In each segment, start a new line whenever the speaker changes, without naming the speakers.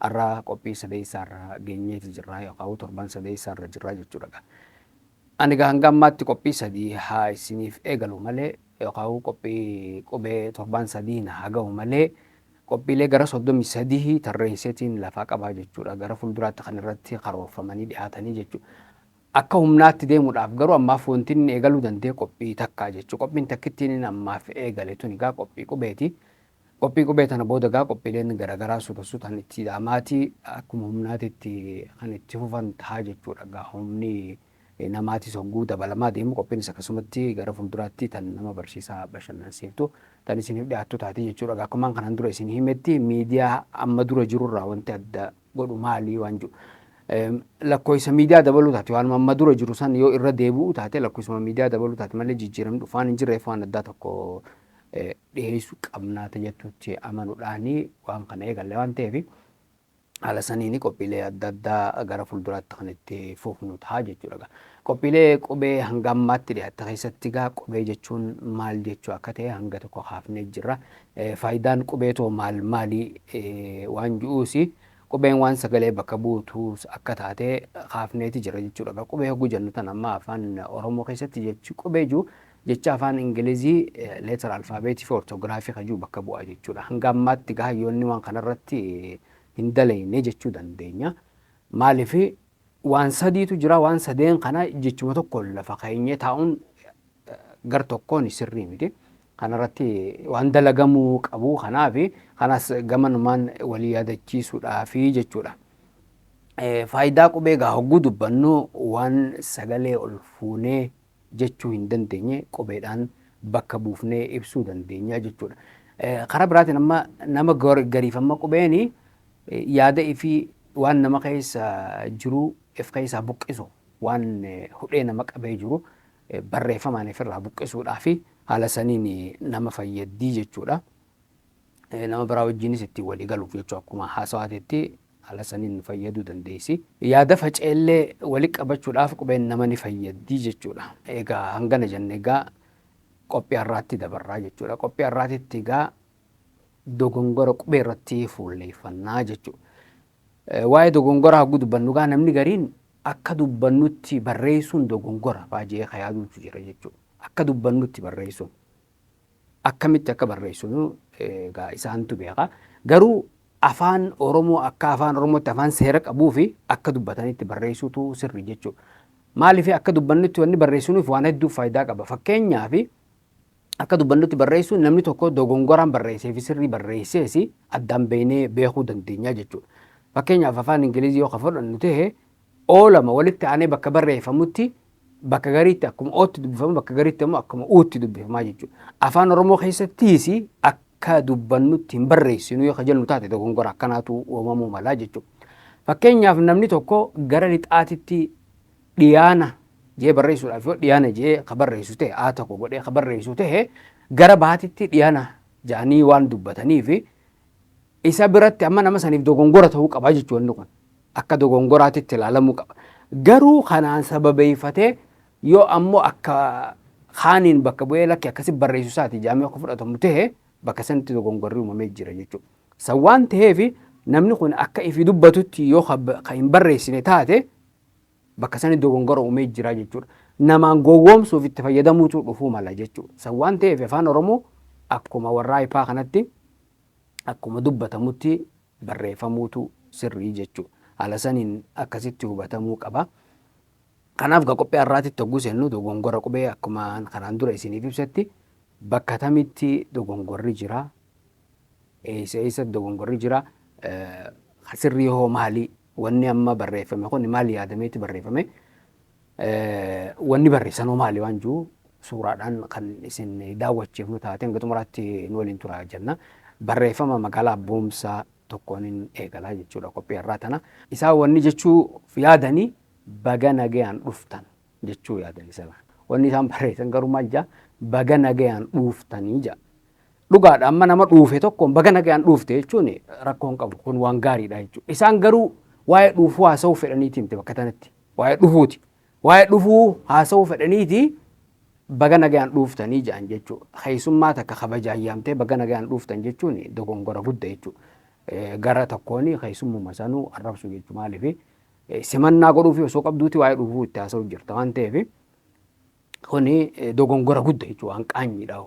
Arra qophii sadeessaa irra geenyeeti jirra yookaan torban sadeessaa irra jirra jechuudha egaa. Ani egaa hanga ammaatti qophii sadii haa isiniif eegalu malee yookaan qophii qubee torbaan sadii na haa gahu malee qophiilee gara 33 tarreesseetiin lafaa qabaa jechuudha. Gara fuulduraatti kan irratti karoorfamanii dhiyaatanii jechuudha. Akka humnaatti deemuudhaaf garuu ammaaf wanti inni eegaluu danda'e qophii takkaa jechuudha. Qophiin takkittiin inni ammaaf eegale tun egaa qophii qubeeti. Qophii qubee tana booda egaa qophiileen garagaraa suta sutaan itti ida'amaatii akkuma humnaatitti kan itti fufan ta'a jechuudha. Egaa humni namaatis hogguu dabalamaa deemu qophiinis akkasumatti gara fuulduraatti tan nama barsiisaa bashannansiiftu tan isiniif dhiyaattu taati jechuudha. Egaa akkumaan kanaan dura isin himetti miidiyaa amma dura jirurraa wanti adda godhu maalii waan jiru. Lakkoofsa miidiyaa dabaluu taate waanuma amma dura jiru san yoo irra deebi'u taate lakkoofsuma miidiyaa dabaluu taate malee jijjiiramni dhufaan hin jirreef waan addaa tokko dhiheessu qabna ta jettutti amanudhaani waan kana eegalle waan ta'eef haala saniini qophiilee adda addaa gara fuulduraatti kan itti fufnu ta'a jechuudha egaa. Qophiilee qubee hanga ammaatti dhiyaatte keessatti egaa qubee jechuun maal jechuu akka ta'e hanga tokko kaafnee jirra. Faayidaan qubee too maal maali waan ju'uus qubeen waan sagalee bakka buutuus akka taate kaafneeti jira jechuudha egaa. Qubee hogguu jennu tan amma afaan Oromoo keessatti jechi qubee jiru Jecha afaan Ingilizii letter alphabeetiifi orthographii kan jiru bakka bu'a jechuudha. Hanga ammaatti egaa hayyoonni waan kanarratti hin dalayne jechuu dandeenya. Maaliif waan sadiitu jira waan sadeen kana jechuma tokkoon lafa keenyee taa'uun gar tokkoon sirrii miti. Kanarratti waan dalagamuu qabu kanaaf kanas gamanumaan walii yaadachiisuudhaafi jechuudha. Faayidaa qubee egaa hogguu dubbannu waan sagalee ol fuunee jechuu hin dandeenye qubeedhaan bakka buufnee ibsuu dandeenya jechuudha. Karaa biraatiin amma nama gariif amma qubeen yaada ifii waan nama keessa jiru if keessaa buqqisu waan hudhee nama qabee jiru barreeffamaan ifirraa buqqisuudhaa fi haala saniin nama fayyaddii jechuudha. Nama biraa wajjiinis ittiin walii galuuf jechuu akkuma haasawaateetti haala saniin fayyaduu dandeessi. Yaada faca'ellee wali qabachuudhaaf qubeen nama ni fayyaddi jechuudha. Egaa hangana jenne egaa qophii har'aatti dabarraa jechuudha. Qophii har'aatitti egaa dogongora qubee irratti fuulleeffannaa jechuudha. Waa'ee dogongoraa hagguu dubbannu egaa namni gariin akka dubbannutti barreessuun dogongora fa'aa jee ka yaaduutu jira jechuudha. Akka dubbannutti barreessuun. akkamitti akka barreessinu egaa isaantu beeka. Garuu afaan Oromoo akka afaan Oromootti afaan seera qabuu fi akka dubbatanitti barreessuutu sirri jechuudha. Maaliif akka dubbannutti wanni barreessinuuf waan hedduuf faayidaa qaba. Fakkeenyaaf akka dubbannutti barreessuun namni tokko dogongoraan barreessee fi sirrii barreessees addaan beeknee beekuu dandeenya jechuudha. Fakkeenyaaf afaan Ingilizii yoo ka fudhannu ta'e oo lama walitti aanee bakka barreeffamutti bakka gariitti akkuma ootti dubbifama bakka gariitti immoo akkuma uutti dubbifamaa jechuudha. Afaan Oromoo keessattiis akka dubbannutti hin barreessinu yoo jennu taate dogongora akkanaatu uumamuu malaa jechuudha. Fakkeenyaaf namni tokko gara lixaatitti dhiyaana jee barreessuudhaaf yoo dhiyaana jee ka barreessu ta'e aa tokko godhee ka barreessu ta'e gara baatitti dhiyaana jaanii waan dubbataniif Isa biratti amma nama saniif dogongora ta'uu qaba jechuudha wanni kun. Akka dogongoraatitti ilaalamuu qaba. Garuu kanaan sababeeffatee yoo ammoo akka kaaniin bakka bu'ee lakki akkasi barreessu isaati jaamee akka fudhatamu ta'e bakka sanitti dogongorri uumamee jira jechuudha. San waan ta'eef namni kun akka ifi dubbatutti yoo ka hin barreessine taate bakka sani dogongora uumee jira jechuudha. Namaan gowwoomsuuf itti fayyadamuutu dhufuu mala jechuudha. San waan ta'eef Afaan Oromoo akkuma warraa ipaa kanatti akkuma dubbatamutti barreeffamuutu sirrii jechuudha. Haala saniin akkasitti hubatamuu qaba. Kanaaf ga qophii har'aatitti hogguu seennu dogongora qubee akkuma kanaan dura isiniif ibsetti bakka tamitti dogongorri jira? Eessa eessa dogongorri jira? Kan sirrii hoo maali? Wanni amma barreeffame kun maal yaadameeti barreeffame? Wanni barreessan hoo maali waan jiru suuraadhaan kan isin daawwachiifnu taate hanga xumuraatti nu waliin tura jenna. Barreeffama magaalaa Boomsaa tokkoonin eegalaa jechuudha qophii har'aa tana. Isaan wanni jechuuf yaadanii baga nagayaan dhuftan. jechuu yaadan isa kana. Wanni isaan barreessan garuu maal jaa baga nagayaan dhuuftanii jaa. Dhugaadha amma nama dhuufe tokkoon baga nagayaan dhuufte jechuun rakkoon qabu kun waan gaariidha jechuudha. Isaan garuu waa'ee dhuufuu haasa'uu fedhaniiti miti bakka tanatti. Waa'ee dhufuuti. Waa'ee dhufuu haasa'uu fedhaniiti baga nagayaan dhuuftanii ja'an jechuudha. Keessummaa takka kabaja ayyaamtee baga nagayaan dhuuftan jechuun dogongora gudda jechuudha. Gara tokkoon keessummuma sanuu arrabsu jechuudha maaliif simannaa godhuufi osoo qabduuti waa'ee dhufuu itti haasa'u jirta waan ta'eef kuni dogongora gudda jechuudha waan qaanyiidha.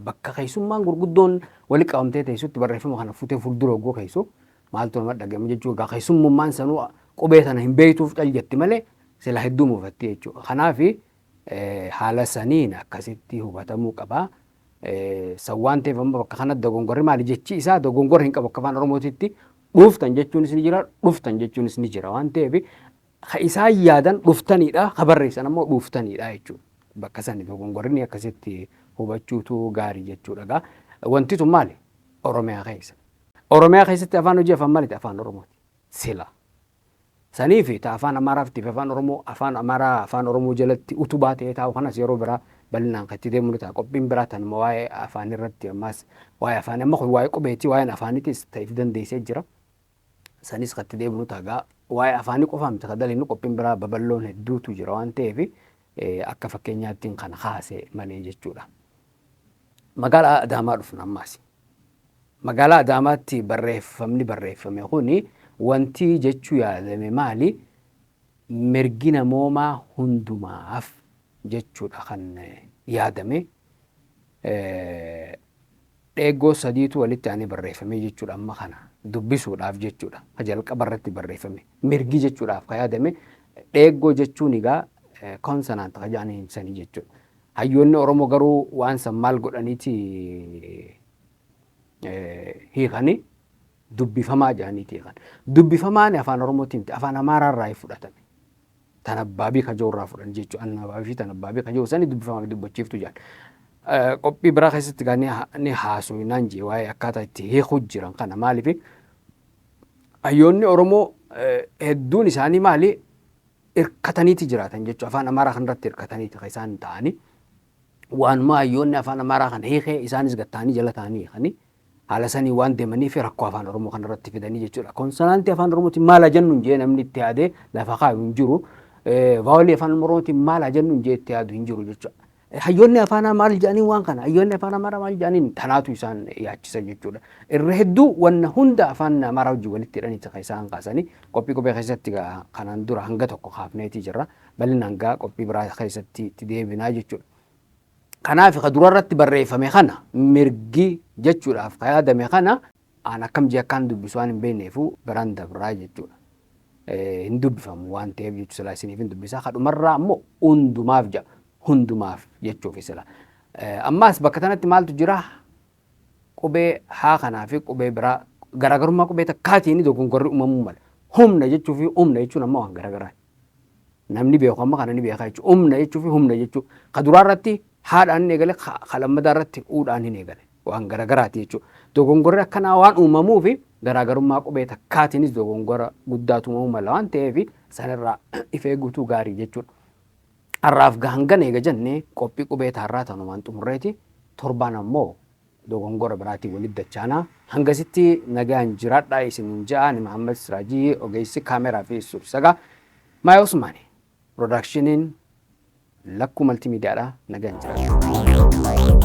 Bakka keessummaan gurguddoon wali qabamtee teessutti barreeffama kana futee fuuldura oggoo keessu maaltu nama dhaga'ama jechuudha. Egaa keessummummaan sanuu qubee sana hin beektuuf cal jetti malee sila hedduu muufatti jechuudha. Kanaaf haala saniin akkasitti hubatamuu qaba. San waan ta'eef amma bakka kanatti dogongorri maali jechi isaa dogongorri hin qabu akka afaan Oromootitti dhuuftan jechuunis ni jira dhuftan jechuunis ni jira waan ta'eef ka isaan yaadan dhuftaniidha ka barreessan ammoo dhuuftaniidha jechuudha. Bakka sani dogongorri akkasitti hubachuutu gaarii jechuudha gaa. Wanti tun maali? Oromiyaa keessa. Oromiyaa keessatti afaan hojii afaan maaliti? Afaan Oromooti. Sila. saniifi ta Afaan Amaaraaftiifi Afaan Oromoo Afaan Amaaraa Afaan Oromoo jalatti utubaa ta'ee taa'u kanas yeroo biraa bal'inaan kan itti deemnu ni ta'a. Qophiin biraa tanuma waa'ee afaaniirratti ammaas waa'ee afaanii amma kun waa'ee qubeeti waa'een afaaniitis ta if dandeessee jira. Sanis kan itti deemnu ta'a. Gaa waa'ee afaanii qofaa miti kan dalagnu qophiin biraa babal'oon hedduutu jira waan ta'eefi Akka fakkeenyaattin kan kaase malee jechuudha. Magaalaa Adaamaa dhufna ammaas. Magaalaa Adaamaatti barreeffamni barreeffame kun wanti jechuu yaalame maali? Mirgi namoomaa hundumaaf jechuudha kan yaadame dheeggoo sadiitu walitti aanee barreeffamee jechuudha amma kana dubbisuudhaaf jechuudha ka jalqaba irratti barreeffame mirgi jechuudhaaf ka yaadame dheeggoo jechuun egaa konsonant ka jedhanii ibsanii jechuudha. Hayyoonni Oromoo garuu waan san maal godhaniiti hiikanii dubbifamaa jedhaniiti hiikan. Dubbifamaan afaan Oromootiin afaan Amaaraa irraa fudhatame. tanabbaabii kajoo irraa fudhan jechu annaabaabii fi tanabbaabii kajoo sani dubbifama dubbachiiftu jedhan. Qophii biraa keessatti gaa ni haasu naan jee waa'ee akkaataa itti hiikuu jiran kana maaliif hayyoonni Oromoo hedduun isaanii maali hirkataniiti jiraatan jechuudha. Afaan Amaaraa kanarratti hirkataniiti kan isaan ta'anii waanuma hayyoonni afaan Amaaraa kana hiikee isaanis gad ta'anii jala ta'anii hiikanii haala sanii waan deemanii fi rakkoo afaan Oromoo kana irratti fidanii jechuudha. Konsanaantii afaan Oromootiin maal haa jennuun jee namni itti yaadee lafa kaayu hin jiru. Vaawolii afaan Oromootiin maal haa jennuun jee itti yaadu hin jiru jechuudha. Hayyoonni afaanaa maal jedhanii waan kana hayyoonni afaan Amaaraa maal jedhaniin tanaatu isaan yaachisa jechuudha. Irra hedduu wanna hunda afaan Amaaraa wajjin walitti hidhanii kan isaan kaasanii qophii qubee keessatti kanaan dura hanga tokko kaafneetii jirra. Bal'inaan gaa qophii biraa keessatti itti deebinaa jechuudha. Kanaaf ka durarratti barreeffame kana mirgi jechuudhaaf ka yaadame kana aan akkam jee akkaan dubbisu waan hin beekneefuu biraan dabraa jechuudha. Hin dubbifamu waan ta'eef jechuudha silaa isiniif hin dubbisa. Ka dhumarraa ammoo hundumaaf jedha. Hundumaaf jechuufi sila. Ammaas bakka tanatti maaltu jira? Qubee haa kanaa fi qubee biraa garaagarummaa qubee takkaatiin dogongorri uumamuu mala. Humna jechuu fi humna jechuun ammoo waan garaagaraati. Namni beeku amma kana ni beeka jechuudha. Umna jechuufi humna jechuu. Ka duraa irratti haadhaan hin eegale, ka ka lammataa irratti uudhaan hin eegale. Waan garagaraati jechuudha. Dogongorri akkanaa waan uumamuufi garaagarummaa qubee takkaatiinis dogongora guddaatu uumamuu mala waan ta'eef sanirraa if eeguutu gaarii jechuudha. Har'aaf hangana eega jennee qophii qubee taarraa tanumaan xumurreeti torbaan ammoo dogongora biraatiin walitti dachaana. Hangasitti nagaan jiraadhaa isiniin jedha ani Mahammad Siraajii ogeessi kaameeraa fi suursaga My Osmani Productioniin Lakkuu Multimedia dha nagaan jiraadhaa.